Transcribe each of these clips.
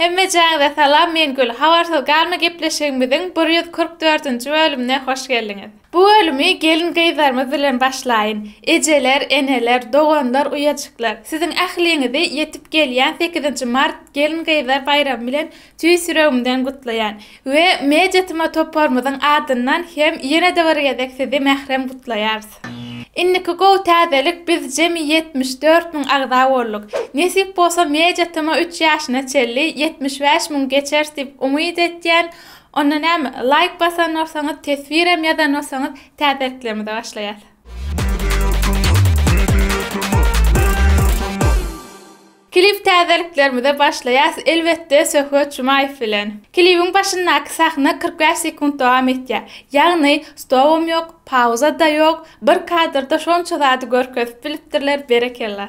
Hemmejaňize salam men Gül habarsyz galma gepleşigimiziň bir ýüz kyrk dördünji bölümine hoş geldiňiz. Bu bölümi gelin gyzlarymyz bilen başlaýyn. Ejeler, eneler, doganlar, uýajyklar siziň ähliňizi ýetip gelýän sekizinji mart gelin gyzlar baýramy bilen tüýs ýüregimden gutlaýan. We Media Tma toparymyzyň adyndan hem ýene-de bir gezek sizi mährem gutlaýarys. Indiki gowy täzelik biz jemi ýetmiş dört müň agza bolduk. Nesip bolsa Media Tma üç ýaşyna çenli ýetmiş bäş müň geçeris diýip umyt etýän. Onda näme, laýk basan bolsaňyz, teswirem ýazan bolsaňyz täzeliklerimize başlaýas. Klip täzeliklerimize başlaýas elbetde Söhbet Jumaýew bilen. Klibiň başyndaky sahna kyrk bäş sekunt dowam etýär. Ýagny stobam ýok, pauza da ýok, bir kadrda şonça zady görkezip bilipdirler berekella.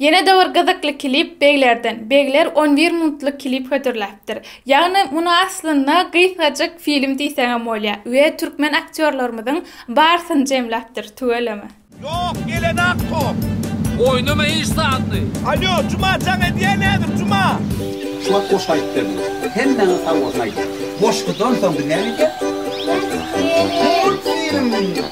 Ýene-de bir gyzykly klip Beglerden. Begler on bir minutlyk klip hödürläpdir. Ýagny muny aslynda gysgajyk film diýseňem bolýar we türkmen aktýorlarymyzyň barysyny jemläpdir, tüweleme. Ýok gelen ak top. Oýnama iş zatly. Alýo Juma jaň edýä nädip Juma. Şu wagt goşgy aýdyp berdiňiz. Hemmäňiz sag bolsun aýdýan. Goşgudan soň biz näme edýäs? Multfilm.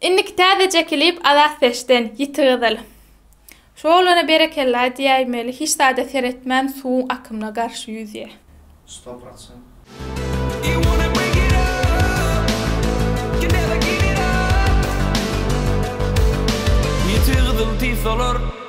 Indiki täzeje klip Azatfeşden, Ýiti gyzyl. Şu oglana berekella diýäýmeli, hiç zada seretmän suwuň akymyna garşy ýüzýä. Stop atsaň. Ýiti gyzyl diýip solar.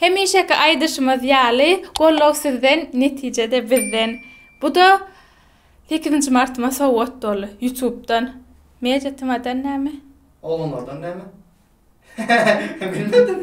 Hemişeki aýdyşymyz ýaly, goldaw sizden, netije-de bizden. Bu-da sekizinji martyma sowgat boldy. Ýutubdan. Media tmadan näme? Oglanlardan näme? Bilmedim.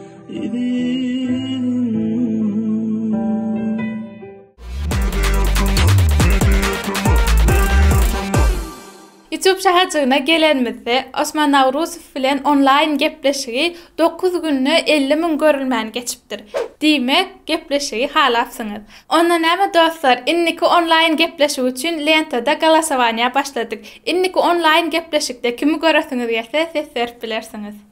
Ýutup şäherjigine gelenimizde, Osman Nawruzow bilen onlaýn gepleşigi dokuz günde elli müň görülmäni geçipdir. Diýmek, gepleşigi halapsyňyz. Onda näme dostlar, indiki onlaýn gepleşik üçin lentada golasowaniýa başladyk. Indiki onlaýn gepleşikde kimi göresiňiz gelse ses berip bilersiňiz.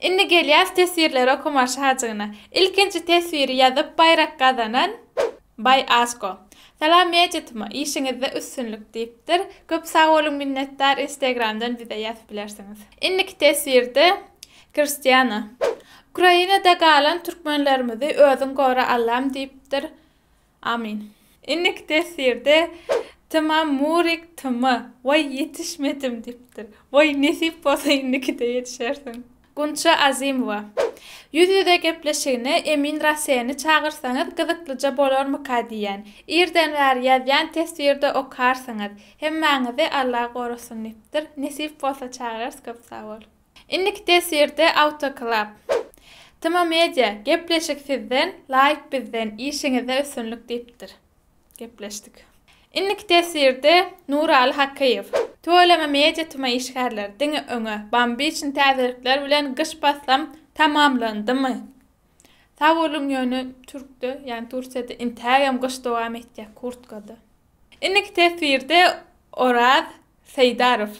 Indi gelýäs teswirleri okamaga şajygyna. Ilkinji teswiri ýazyp baýrak gazanan Baý Asko. Salam Mejitma, işiňizde üstünlik diýipdir. Köp sag boluň minnetdar Instagramdan bize ýazyp bilersiňiz. Indiki teswirde Kristýana. Ukrainada galan türkmenlerimizi özüň gora Allam diýipdir. Amin. Innik tefsirde Tyma Murik Tyma way yetişmedim dipdir. Way nesip bolsa innikide yetişersiň. Gunça Azymowa. Ýüz ýüze gepleşigine Emin Raseni çagyrsaňyz gyzyklyja bolarmyka diýýän. Irden bäri ýazýan teswirde okarsyňyz. Hemmäňizi Allah gorasyn dipdir. Nesip bolsa çagyrarys köp sag bol. Indiki teswirde Autoklap. Tma media, Gepleşik sizden, laýk bizden, işiňizde üstünlik diýipdir. Gepleşdik. Indiki teswirde Nuraly Hakyýew. Tüweleme media tma işgärleri, diňe öňe, bambiçn täzelikler bilen gyş paslam tamamlandymy? Sagboluň ýöne türkde ýagny Tursiýada intägem gyş dowam etýä kurtkada. Indiki teswirde Oraz Seýdarow.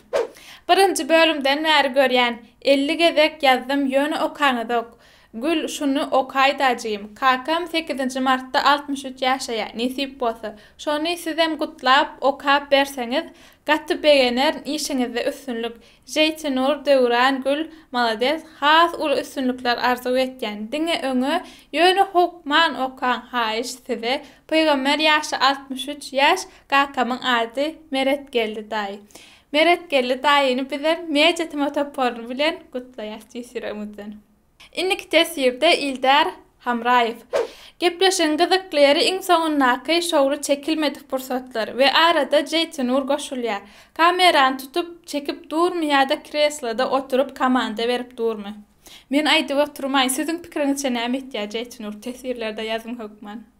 Birinji bölümden bäri görýän, elli gezek ýazdym ýöne okaňyzok. Gül şuny okaýdajym. Kakam sekizinji martda altmyş üç ýaşaýa, nesip bolsa. Şony sizem gutlap, okap berseňiz, gaty begenerin işiňizde üstünlik. Jeýtinur, Döwran, Gül, malades, has uly üstünlikler arzuw etýän. Diňe öňe, ýöne howkman okaň haýyş size. Pygamber ýaşy altmyş üç ýaş, Kakamyň ady Meretgeldi daýy. Meretgeldi daýyny bizem Media tema toparyny bilen gutlaýas tüýs ýüregimizden. Indiki teswirde Ildar Hamraýew. Gepleşigiň gyzykly ýeri iň soňundaky şowly çekilmedik pursatlar we arada Jeýtinur goşulýar. Kamerany tutup, çekip durmy ýa-da kresloda oturyp komanda berip durmy? Men aýdyp oturmaýyn, siziň pikiriňizçe näme etýär Jeýtinur teswirlerde ýazym hökman?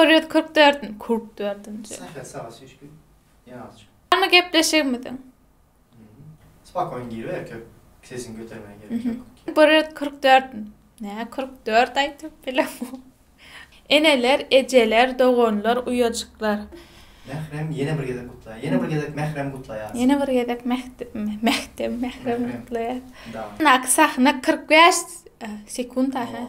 Bir ýüz kyrk dört, kyrk dördünji. Saha saha şişkin. Ýazyç. Ama gepleşigimiziň. Spakoýn gir erkek sesini götermän gerek ýok. Bir ýüz kyrk dört. Nä kyrk dört aýdyp bilen bu. Eneler, ejeler, doganlar, uýajyklar. Mährem ýene bir gezek gutlaýar. Ýene bir gezek Mährem gutlaýar. Ýene bir gezek Mähtem Mährem gutlaýar. Yndaky sahna kyrk bäş sekunt aha.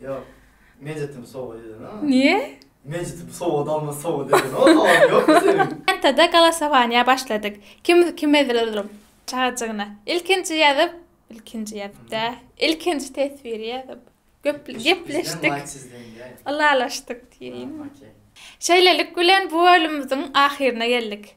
Yok. Mecit'im soba dedin ha. Niye? Mecit'im soba dalma soba dedin. O zaman yok mu senin? Entada galasowaniýa başladyk. Kim kim edilelim? Çagajygyna. Ilkinji ýazyp, ilkinji ýazyp-da, ilkinji teswiri ýazyp, göp Bizden gepleşdik, like sizden diýäýdi. ylalaşdyk diýeýin. Okey. Şeýlelik bilen bu bölümimiziň ahyryna geldik.